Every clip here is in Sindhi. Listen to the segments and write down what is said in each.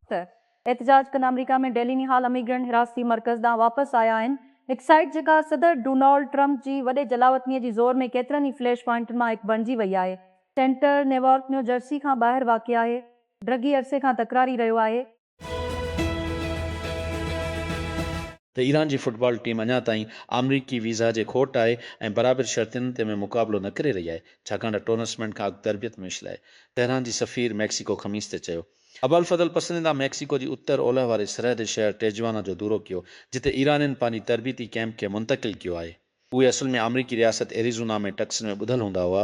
ته احتجاج ڪندڙ آمريڪا ۾ ڊيليني هال اميگرنٽ حراستي مرڪز ڏانهن واپس آيا آهن. هڪ سائيٽ جيڪا صدر ڊونالڊ ٽرمپ جي وڏي جلاوطنيء جي زور ۾ ڪيترن ئي فليش پوائنٽن مان هڪ بڻجي وئي آهي. سينٽر نيوارڪ نيوجرسي کان ٻاهر واقع آهي. ڊرگي عرصي کان تڪراري رهيو آهي. ته ايران جي فٽبال ٽيم اڃا تائين آمريڪي ويزا جي کوٽ آهي ۽ برابر شرطين تي ۾ مقابلو نه ڪري رهي آهي ڇاڪاڻ ته ٽورنسمينٽ کان اڳ تربيت ميچ لاء تهران جي سفير ميڪسيڪو خميس تي چيو ابوالفضل پسرندا ميڪسيڪو جي اتر اولهه واري سرحدي شهر ٽيجوانا جو دورو ڪيو جتي ايرانين پنهنجي تربيتي ڪيمپ کي منتقل ڪيو آهي. اهي اصل ۾ آمريڪي رياست ايريزونا ۾ ٽڪسن ۾ ٻڌل هوندا هئا.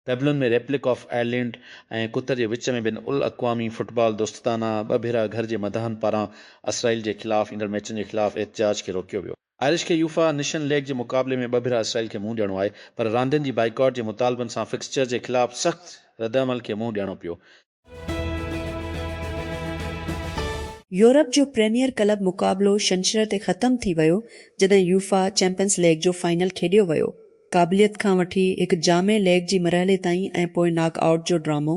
پيبلون ۾ ريپلڪ آف آئرلينڊ ۽ قطر جي وچ ۾ بين الاقوامي فٽبال دوستدانه ٻه ڀيرا گهر جي مداحن پاران اسرائيل جي خلاف ايندڙ ميچن جي خلاف احتجاج کي روڪيو ويو. آئرش کي يوفا نشن ليگ جي مقابلي ۾ ٻه ڀيرا اسرائيل کي منهن ڏيڻو آهي پر راندين جي بائيڪاٽ جي مطالبن سان فڪسچر جي خلاف سخت ردعمل کي منهن ڏيڻو پيو. يورپ جو پريميئر ڪلب مقابلو شنشرر تي ختم ٿي ويو جڏهن يوفا چيمپئنز ليگ جو فائنل کيڏيو ويو. قابليت کان وٺي هڪ جامع ليگ جي مرحلي تائين ۽ پوء ناڪ آئوٽ جو ڊرامو،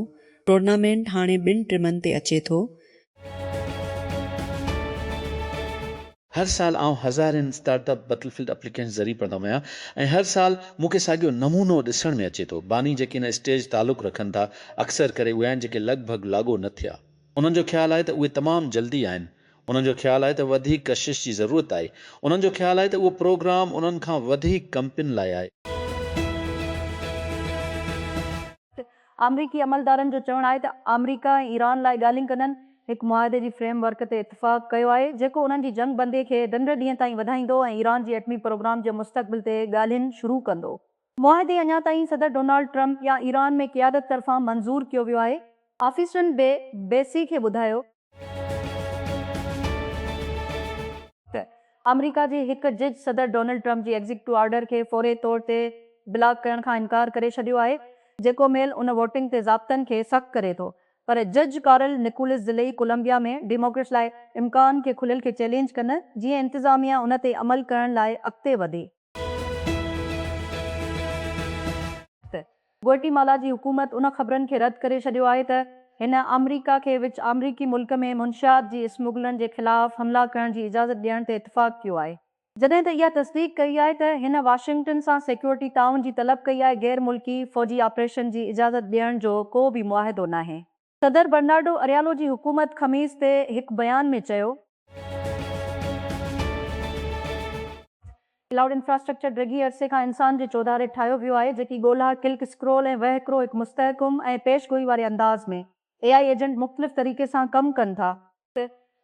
ٽورنامينٽ هاڻي ٻن ٽيمن تي اچي ٿو، هر سال آئون هزارين start up battlefield applications ذري پڙهندو آهيان ۽ هر سال مون کي ساڳيو نمونو ڏسڻ ۾ اچي ٿو. باني جيڪي ان اسٽيج تعلق رکن ٿا اڪثر ڪري اهي آهن جيڪي لڳ ڀڳ لاڳو نه ٿيا. انهن جو خيال آهي ته اهي تمام جلدي آهن. انهن جو خيال آهي ته وڌيڪ ڪشش جي ضرورت آهي. انهن جو خيال آهي ته اهو پروگرام انهن کان وڌيڪ ڪمپنين لاء آهي. آمريڪي عملدارن جو چوڻ آهي ته آمريڪا ۽ ايران لاء ڳالهين ڪندن هڪ معاهدي جي فريم ورڪ تي اتفاق ڪيو آهي جيڪو انهن جي جنگ بندي کي ڊنڊ ڏينهن تائين وڌائيندو ۽ ايران جي ايٽمي پروگرام جي مستقبل تي ڳالهين شروع ڪندو. معاهدي اڃا تائين صدر ڊونالڊ ٽرمپ يا ايران ۾ قيادت طرفان منظور ڪيو ويو آهي. آفيسرن بي بي سي کي ٻڌايو. ته آمريڪا جي هڪ جج صدر ڊونلڊ ٽرمپ جي ايگزيڪٽو آرڊر کي فوري طور تي بلاڪ ڪرڻ کان انڪار ڪري ڇڏيو آهي، جيڪو ميل ان ووٽنگ تي ضابطن کي سخت ڪري ٿو. پر جج ڪارل نڪولس ضلعي ڪولمبيا ۾ ڊيموڪريٽس لاء امڪان کي کليل کي چئلينج ڪن جيئن انتظاميا ان تي عمل ڪرڻ لاء اڳتي وڌي. گوئٽي مالا جي حڪومت ان خبرن کي رد ڪري ڇڏيو آهي ته هن آمريڪا کي وچ آمريڪي ملڪ ۾ منشيات جي اسمگلرن جي خلاف حملا ڪرڻ جي اجازت ڏيڻ تي اتفاق ڪيو آهي، جڏهن ته اها تصديق ڪئي آهي ته هن واشنگٽن سان سيڪيورٽي تعاون جي طلب ڪئي آهي، غير ملڪي فوجي آپريشن جي اجازت ڏيڻ جو ڪو به معاهدو ناهي. صدر برنارڊو اريالو جي حڪومت خميس تي هڪ بيان ۾ چيو. ڪلائوڊ انفراسٽرڪچر ڊگهي عرصي کان انسان جي چوڌاري ٺاهيو ويو آهي، جيڪي ڳولها، ڪلڪ اسڪرول ۽ وهڪرو هڪ مستحڪم ۽ پيش گوئي واري انداز ۾، اي آء ايجنٽ مختلف طريقي سان ڪم ڪن ٿا.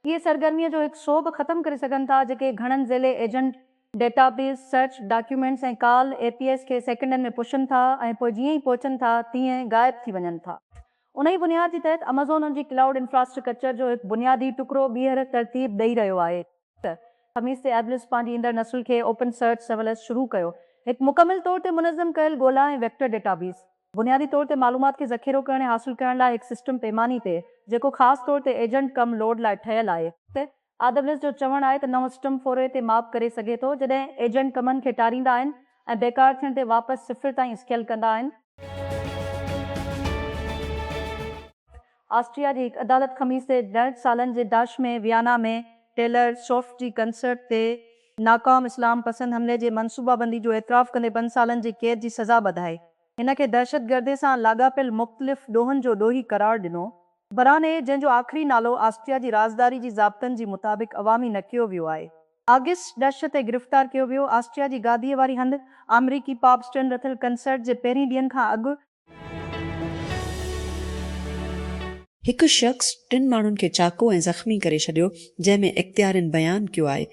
تي اهي سرگرميء جو هڪ سو به ختم ڪري سگهن ٿا، جيڪي گهڻن ذيلي agent, database, search, documents ۽ call, APIs, کي سيڪنڊن ۾ پڇن ٿا ۽ پوء جيئن ئي پهچن ٿا تيئن غائب ٿي وڃن ٿا. انهيء بنياد جي تحت امازون ان جي ڪلائوڊ انفراسٽرڪچر جو هڪ بنيادي ٽڪرو ٻيهر ترتيب ڏئي رهيو آهي. ته خميس تي ايبلس پنهنجي ايندڙ نسل کي اوپن سرچ سرويلنس شروع ڪيو، هڪ مڪمل طور تي منظم ڪيل ڳولا ۽ ويڪٽر ڊيٽا بيس. بنيادي طور تي معلومات کي ذخيرو ڪرڻ ۽ حاصل ڪرڻ لاء هڪ سسٽم پيماني تي جيڪو خاص طور تي ايجنٽ ڪم لوڊ لاء ٺهيل آهي. آدبلس جو چوڻ آهي ته نئون سسٽم فوري تي ماپ ڪري سگهي ٿو جڏهن ايجنٽ ڪمن کي ٽاريندا آهن ۽ بيڪار ٿيڻ تي واپس صفر تائين اسڪيل ڪندا آهن. آسٽريا جي هڪ عدالت خميس تي ڏهن سالن جي داعش ۾ ويانا ۾ ٽيلر سوفٽ جي ڪنسرٽ تي ناڪام اسلام پسند حملي جي منصوبابندي جو اعتراف ڪندي پنج سالن جي قيد جي سزا ٻڌائي هن کي دهشتگردي سان لاڳاپيل مختلف ڏوهن جو ڏوهي قرار ڏنو. براني، جنهن جو آخري نالو آسٽريا جي رازداري جي ضابطن جي مطابق عوامي نه ڪيو ويو آهي، آگسٽ ڏهشت تي گرفتار ڪيو ويو، آسٽريا جي گاديء واري هنڌ آمريڪي پاپ اسٽرن رٿل ڪنسرٽ جي پهرين ڏينهن کان اڳ، هڪ شخص ٽن ماڻهن کي چاقو ۽ زخمي ڪري ڇڏيو، جنهن ۾ اختيارين بيان ڪيو آهي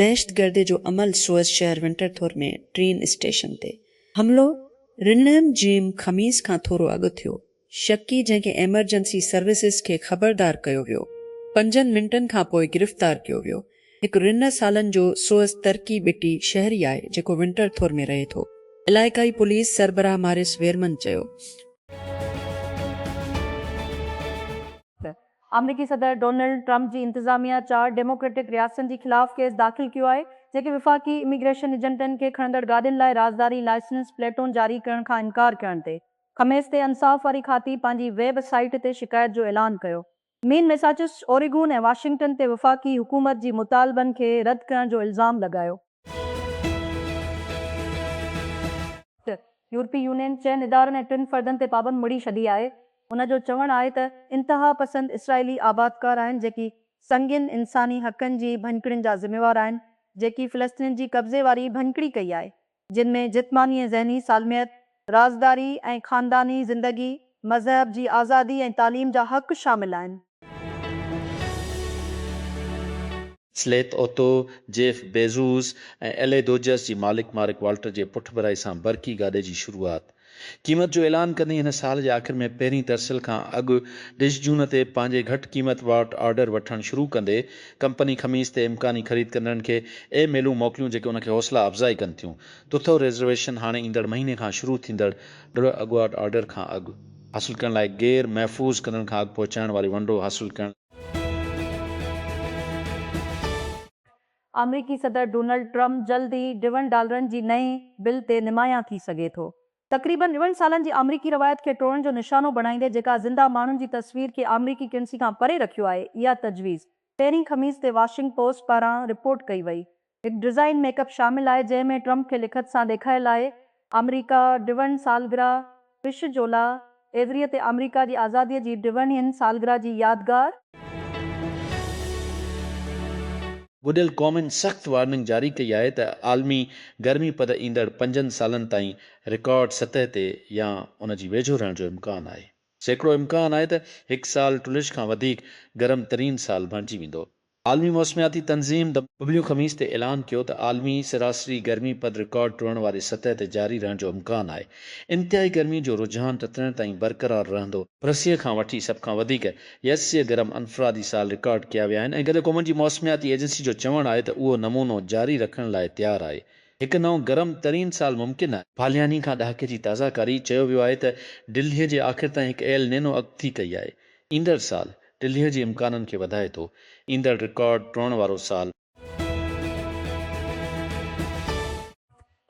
دهشتگردي جو عمل سوئس شهر ونٽرٿور ۾ ٽرين اسٽيشن تي حملو رنئم جيم خميس کان ٿورو اڳ ٿيو شڪي جنهن کي ايمرجنسي سروسز کي خبردار ڪيو ويو پنجن منٽن کانپوء گرفتار ڪيو ويو هڪ رنه سالن جو سوئس ترڪي ٻٽي شهري آهي جيڪو ونٽر ٿور ۾ رهي ٿو. علائقائي پوليس سربراهه ماريس ويرمن چيو. آمريڪي صدر ڊونلڊ ٽرمپ جي انتظاميا چار ڊيموڪريٽڪ رياستن جي خلاف ڪيس داخل ڪيو آهي جيڪي وفاقي اميگريشن ايجنٽن کي کڻندڙ گاڏين لاء رازداري لائسنس پليٽون جاري ڪرڻ کان انڪار ڪرڻ تي خميس تي انصاف واري کاتي پنهنجي ويب سائيٽ تي شڪايت جو اعلان ڪيو مين ميساچوسٽس، اوريگون ۽ واشنگٽن تي وفاقي حڪومت جي مطالبن کي رد ڪرڻ جو الزام لڳايو. ٽه، يورپي يونين چئن ادارن ۽ ٽن فردن تي پابند مڙهي ڇڏي آهي. هن جو چوڻ آهي ته انتهاپسند اسرائيلي آبادڪار آهن جيڪي سنگين انساني حقن جي ڀڃڪڙين جا ذميوار آهن جيڪي فلسطينين جي قبضي واري ڀڃڪڙي ڪئي آهي. جن ۾ جسماني ۽ ذهني سالميت، رازداري ۽ خانداني زندگي، مذهب جي آزادي ۽ تعليم جا حق شامل آهن. سليٿ اوتو، جيف بيزوس ۽ ايلي دوجس جي مالڪ مارڪ والٽر جي پٺڀرائي سان برقي گاڏي جي شروعات. قيمت جو اعلان ڪندي هن سال جي آخر ۾ پهرين ترسيل کان اڳ ڊش جون تي پنهنجي گهٽ قيمت وارٽ آرڊر وٺڻ شروع ڪندي ڪمپني خميس تي امڪاني خريد ڪندڙن کي اي ميلون موڪليون جيڪي ان کي حوصلا افزائي ڪن ٿيون تٿو ريزرويشن هاڻي ايندڙ مهيني کان شروع ٿيندڙ ڊش اڳواٽ آرڊر کان اڳ حاصل ڪرڻ لاء غير محفوظ ڪندڙن کان اڳ پهچائڻ واري ونڊو حاصل ڪرڻ. آمريڪي صدر ڊونلڊ ٽرمپ جلد ئي ڊون ڊالرن جي نئين بل تي نمايان ٿي سگهي ٿو. تقريبن ڏون سالن جي آمريڪي روايت کي ٽوڙڻ جو نشانو بڻائيندي جيڪا زنده ماڻهن جي تصوير کي آمريڪي ڪرنسي کان پري رکيو آهي اها تجويز پهرين خميس تي واشنگ پوسٽ پاران رپورٽ ڪئي وئي هڪ ڊزائين ميڪ اپ شامل آهي جنهن ۾ ٽرمپ کي لکت سان ڏيکايل آهي آمريڪا ڊوئن سالگرهه، بش جولا ايويري تي آمريڪا جي آزاديء جي ڊوئن ين سالگرهه جي يادگار. گڏيل قومن سخت وارننگ جاري ڪئي آهي ته عالمي گرمي پد ايندڙ پنجن سالن تائين رڪارڊ سطح تي يا ان جي ويجهو رهڻ جو امڪان آهي. سيڪڙو امڪان آهي ته هڪ سال ٽلش کان وڌيڪ گرم ترين سال بڻجي ويندو. عالمي موسمياتي تنظيم، ڊبليو، خميس تي اعلان ڪيو ته عالمي سراسري گرمي پد رڪارڊ ٽوڙڻ واري سطح تي جاري رهڻ جو امڪان آهي. انتهائي گرمي جو رجحان ٽٽڻ تائين برقرار رهندو. رسيء کان وٺي سڀ کان وڌيڪ يسيء گرم انفرادي سال رڪارڊ ڪيا ويا آهن ۽ گڏيل قومن جي موسمياتي ايجنسي جو چوڻ آهي ته اهو نمونو جاري رکڻ لاء تيار آهي. هڪ نئون گرم ترين سال ممڪن آهي. پالياني کان ڏهاڪي جي تازه ڪاري، چيو ويو آهي ته ڊلهي جي آخر تائين هڪ ايل نينو اڳڪٿي ڪئي آهي. ايندڙ سال ٽلهي جي امڪانن کي وڌائي ٿو، ايندڙ رڪارڊ ٽوڙڻ وارو سال.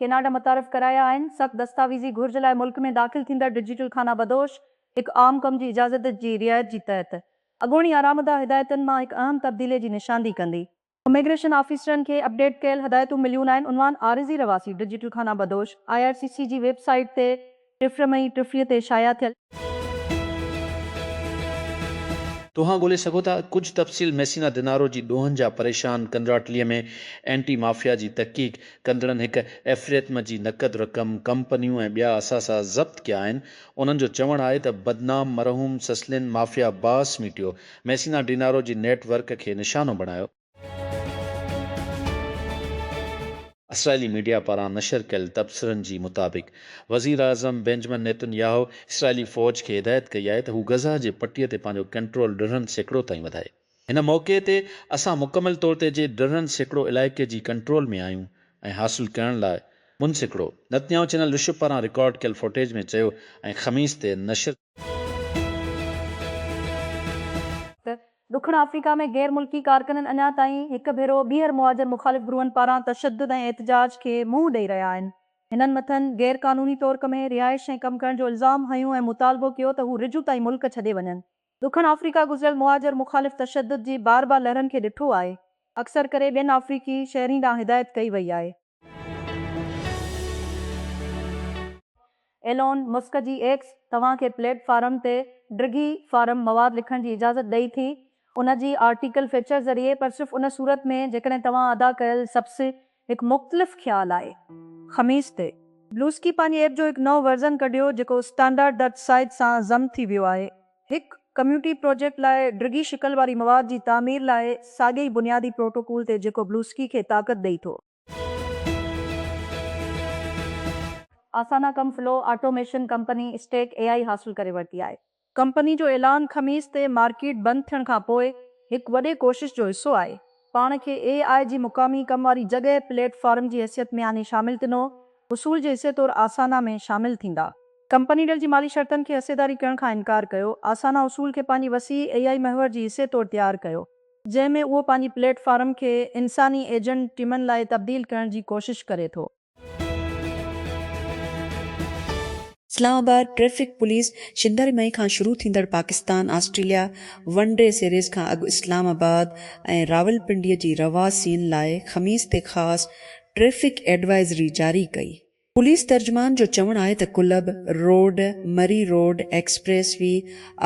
ڪيناڊا متعارف ڪرايا آهن، سخت دستاويزي گهرج لاء ملڪ ۾ داخل ٿيندڙ ڊجيٽل خانه بدوش هڪ عام ڪم جي اجازت جي رعايت جي تحت اڳوڻي آرامده هدايتن مان هڪ اهم تبديلي جي نشاندهي ڪندي. اميگريشن آفيسرن کي اپڊيٽ ڪيل هدايتون مليون آهن، عنوان عارضي رهواسي ڊجيٽل خانه بدوش، آء آر سي سي جي ويب سائيٽ تي ٽيف مئي ٽيف تي شايع ٿيل. توهان ڳولي سگهو ٿا ڪجهه تفصيل ميسينا دنارو جي ڏوهن جا پريشان ڪنراٽلي ۾ اينٽي مافيا جي تحقيق ڪندڙن هڪ ايفريتم جي نقد رقم، ڪمپنيون ۽ ٻيا اثاثا ضبط ڪيا آهن، انهن جو چوڻ آهي ته بدنام مرحوم سسلين مافيا باس ميٽيو ميسينا ڊينارو جي نيٽ ورڪ کي نشانو بڻايو. اسرائيلي ميڊيا پاران نشر ڪيل تبصرن جي مطابق وزيراعظم بينجمن نيتن ياهو اسرائيلي فوج کي هدايت ڪئي آهي ته هو غزه جي پٽي تي پنهنجو ڪنٽرول ڏرڙهن سيڪڙو تائين وڌائي. هن موقعي تي اسان مڪمل طور تي جي ڏرڙهن سيڪڙو علائقي جي ڪنٽرول ۾ آهيون ۽ حاصل ڪرڻ لاء منسيڪڙو نتنياهو چينل رشب پاران رڪارڊ ڪيل فوٽيج ۾ چيو ۽ خميس تي نشر ته ڏکڻ آفريڪا ۾ غير ملڪي ڪارڪنن اڃا تائين هڪ ڀيرو ٻيهر مهاجر مخالف گروهن پاران تشدد ۽ احتجاج کي منهن ڏئي رهيا آهن. هنن مٿن غير قانوني طور ڪمهين رهائش ۽ ڪم ڪرڻ جو الزام هنيو ۽ مطالبو ڪيو ته هو رجوع تائين ملڪ ڇڏي وڃن. ڏکڻ آفريڪا گذريل مهاجر مخالف تشدد جي بار بار لهرن کي ڏٺو آهي. اڪثر ڪري ٻين آفريڪي شهرين ڏانهن هدايت ڪئي وئي آهي. ايلون مسڪ جي ايڪس توهان کي پليٽ فارم تي ڊگهي فارم مواد لکڻ جي اجازت ڏئي ٿي ان جي آرٽيڪل فيچر ذريعي پر صرف ان صورت ۾ جيڪڏهن توهان ادا ڪيل سبس هڪ مختلف خيال آهي. خميس تي بلوسڪي پنهنجي ايپ جو هڪ نئون ورزن ڪڍيو جيڪو اسٽانڊارڊ درج سائيز سان ضم ٿي ويو آهي. هڪ ڪميونٽي پروجيڪٽ لاء ڊگهي شڪل واري مواد جي تعمير لاء ساڳئي ئي بنيادي پروٽوڪول تي جيڪو بلوسڪي کي طاقت ڏئي ٿو. آسانا ڪم flow automation company stack A I حاصل ڪري ورتي آهي. ڪمپني جو اعلان خميس تي مارڪيٽ بند ٿيڻ کانپوء هڪ وڏي ڪوشش جو حصو آهي. پاڻ کي اي آء جي مقامي ڪم واري جڳهه پليٽ فارم جي حيثيت ۾ آڻي شامل تنو وصول جي حصي طور آسانا ۾ شامل ٿيندا. ڪمپني ڊيل جي مالي شرطن کي حصيداري ڪرڻ کان انڪار ڪيو. آسانا وصول کي پنهنجي وسيع اي آء محور جي حصي طور تيار ڪيو، جنهن ۾ اهو پنهنجي پليٽ فارم کي انساني ايجنٽ ٽيمن لاء تبديل ڪرڻ جي ڪوشش ڪري ٿو. اسلام آباد، ٽريفڪ پوليس شنڊاري مئي کان شروع ٿيندڙ Pakistan Australia one day series کان اڳ اسلام آباد ۽ راولپنڊي جي رهواسين لاء خميس تي خاص ٽريفڪ ايڊوائزري جاري ڪئي. پوليس ترجمان جو چوڻ آهي ته club road, Murree road, expressway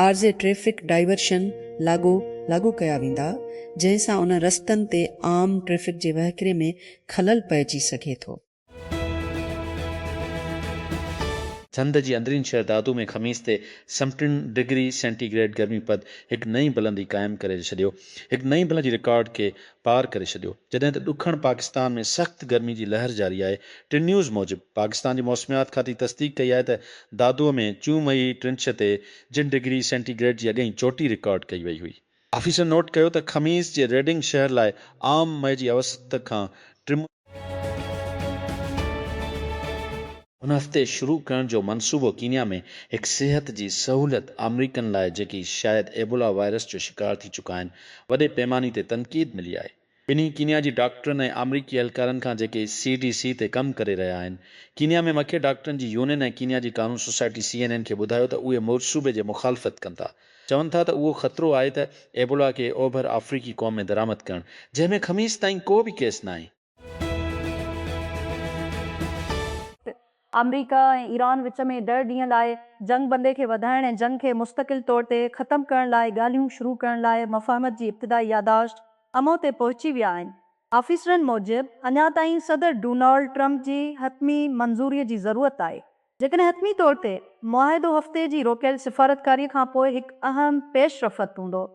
عارضي ٽريفڪ ڊائيورشن لاڳو لاڳو ڪيا ويندا، جنهن سان انهن رستن تي عام ٽريفڪ جي وهڪري ۾ خلل پئجي سگهي ٿو. سنڌ جي اندرين شهر دادو ۾ خميس تي سمٽن ڊگري سينٽي گريڊ گرمي پد هڪ نئين بلندي قائم ڪري ڇڏيو، هڪ نئين بلندي رڪارڊ کي پار ڪري ڇڏيو، جڏهن ته ڏکڻ پاڪستان ۾ سخت گرمي جي لهر جاري آهي، ٽي نيوز موجب پاڪستان جي موسميات کاتي تصديق ڪئي آهي ته دادو ۾ چومهي ٽرنڇ تي جن ڊگري سينٽي گريڊ جي اڳئين چوٽي رڪارڊ ڪئي وئي هئي. آفيسر نوٽ ڪيو ته خميس جي ريڊنگ شهر لاء عام مئي جي اوسط کان ٽن. هن هفتي شروع ڪرڻ جو منصوبو ڪينيا ۾ هڪ صحت جي سهولت آمريڪن لاء جيڪي شايد ايبولا وائرس جو شڪار ٿي چڪا آهن وڏي پيماني تي تنقيد ملي آهي. ٻنهي ڪينيا جي ڊاڪٽرن ۽ آمريڪي اهلڪارن کان جيڪي سي ڊي سي تي ڪم ڪري رهيا آهن. ڪينيا ۾ مکيه ڊاڪٽرن جي يونين ۽ ڪينيا جي قانون سوسائٽي سي اين اين کي ٻڌايو ته اهي مورصوبي جي مخالفت ڪن ٿا. چون ٿا ته اهو خطرو آهي ته ايبولا کي اوڀر آفريڪي قوم ۾ درآمد ڪرڻ جنهن ۾ خميس تائين ڪو به ڪيس ناهي. آمريڪا ۽ ايران وچ ۾ ڏهه ڏينهن لاء جنگ بندي کي وڌائڻ ۽ جنگ کي مستقل طور تي ختم ڪرڻ لاء ڳالهيون شروع ڪرڻ لاء مفاهمت جي ابتدائي ياداشت امو تي پهچي ويا آهن. آفيسرن موجب اڃا تائين صدر ڊونالڊ ٽرمپ جي حتمي منظوري جي ضرورت آهي. جيڪڏهن حتمي طور تي معاهدو هفتي جي روڪيل سفارتڪاري کانپوء هڪ اهم پيش رفت هوندو.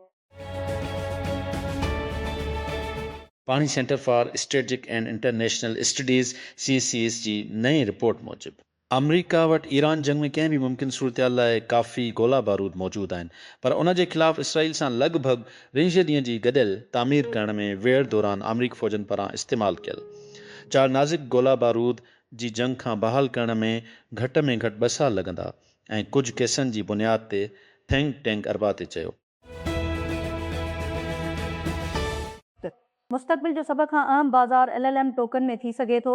پاڻي Center for Strategic and International Studies, C C S, جي نئين رپورٽ موجب، آمريڪا وٽ ايران جنگ ۾ ڪنهن به ممڪن صورتحال لاء ڪافي گولا بارود موجود آهن، پر ان جي خلاف اسرائيل سان لڳ ڀڳ رنجهه ڏينهن جي گڏيل تعمير ڪرڻ ۾ ويڙهه دوران آمريڪي فوجن پاران استعمال ڪيل چار نازڪ گولا بارود جي جنگ کان بحال ڪرڻ ۾ گهٽ ۾ گهٽ ٻه سال لڳندا ۽ ڪجهه ڪيسن جي بنياد تي ٿينڪ ٽينڪ اربع تي چيو. مستقبل جو سڀ کان اهم بازار ايل ايل ايم ٽوڪن ۾ ٿي سگهي ٿو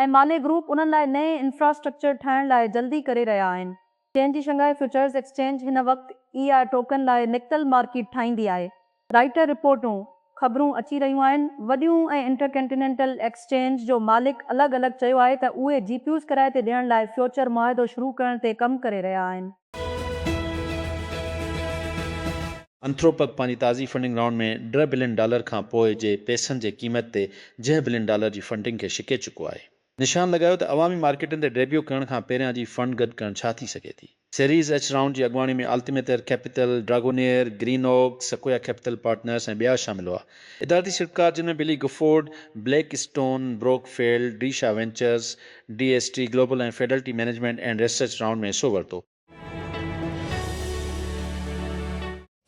۽ مالي گروپ انهن لاء نئين انفراسٽرڪچر ٺاهڻ لاء جلدي ڪري رهيا آهن. چين جي شنگهائي فيوچرز ايڪسچينج هن وقت اي آء ٽوڪن لاء نڪتل مارڪيٽ ٺاهيندي آهي. رائٽر رپورٽون، خبرون اچي رهيون آهن، وڏيون ۽ انٽرڪنٽينينٽل ايڪسچينج جو مالڪ الڳ الڳ چيو آهي ته اهي جي پيوز ڪرائي تي ڏيڻ لاء فيوچر معاهدو شروع ڪرڻ تي ڪم ڪري رهيا آهن. انٿروپڪ پنهنجي تازي فنڊنگ رائونڊ ۾ ڊهه بلين ڊالر کان پوء جي پئسن جي قيمت تي جهه بلين ڊالر جي فنڊنگ کي شڪي چڪو آهي. نشان لڳايو ته عوامي مارڪيٽن تي ڊيبيو ڪرڻ کان پهريان جي فنڊ گڏ ڪرڻ ڇا ٿي سگهي ٿي. سيريز ايڇ رائونڊ جي اڳواڻي ۾ آلتيميتر ڪيپيتل، ڊراگونيئر، گرين اوڪ، سڪويا ڪيپيتل پارٽنرز ۽ ٻيا شامل هئا. ادارتي سرڪار جنھن ۾ Baillie Gifford, Blackstone, Brookfield, D Shaw Ventures, D S T Global ۽ Fidelity Management and Research round ۾ حصو ورتو.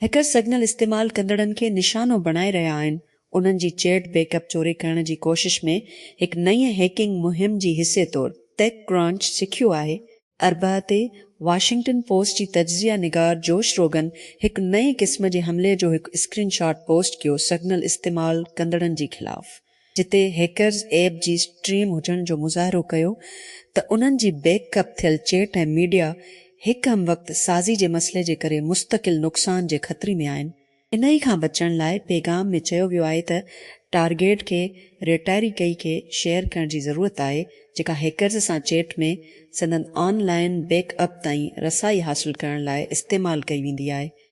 هيڪرز سگنل استعمال ڪندڙن کي نشانو بڻائي رهيا آهن، انهن جي چيٽ بيڪ اپ چوري ڪرڻ جي ڪوشش ۾ هڪ نئين هيڪنگ مهم جي حصي طور، ٽيڪ ڪرانچ سکيو آهي اربع تي واشنگٽن پوسٽ جي تجزيه نگار جوش روگن هڪ نئين قسم جي حملي جو هڪ اسڪرين شاٽ پوسٽ ڪيو سگنل استعمال ڪندڙن جي خلاف جتي هيڪرز ايپ جي اسٽريم هجڻ جو مظاهرو ڪيو ته انهن جي بيڪ اپ ٿيل چيٽ ۽ ميڊيا هڪ هم وقت سازي جي مسئلي جي ڪري مستقل نقصان جي خطري ۾ آهن انهي کان بچڻ لاء پيغام ۾ چيو ويو آهي ته ٽارگيٽ کي ريٽائري ڪئي کي شيئر ڪرڻ جي ضرورت آهي جيڪا هيڪرز سان چيٽ ۾ سندن آن لائين بيڪ اپ تائين رسائي حاصل ڪرڻ لاء استعمال ڪئي ويندي آهي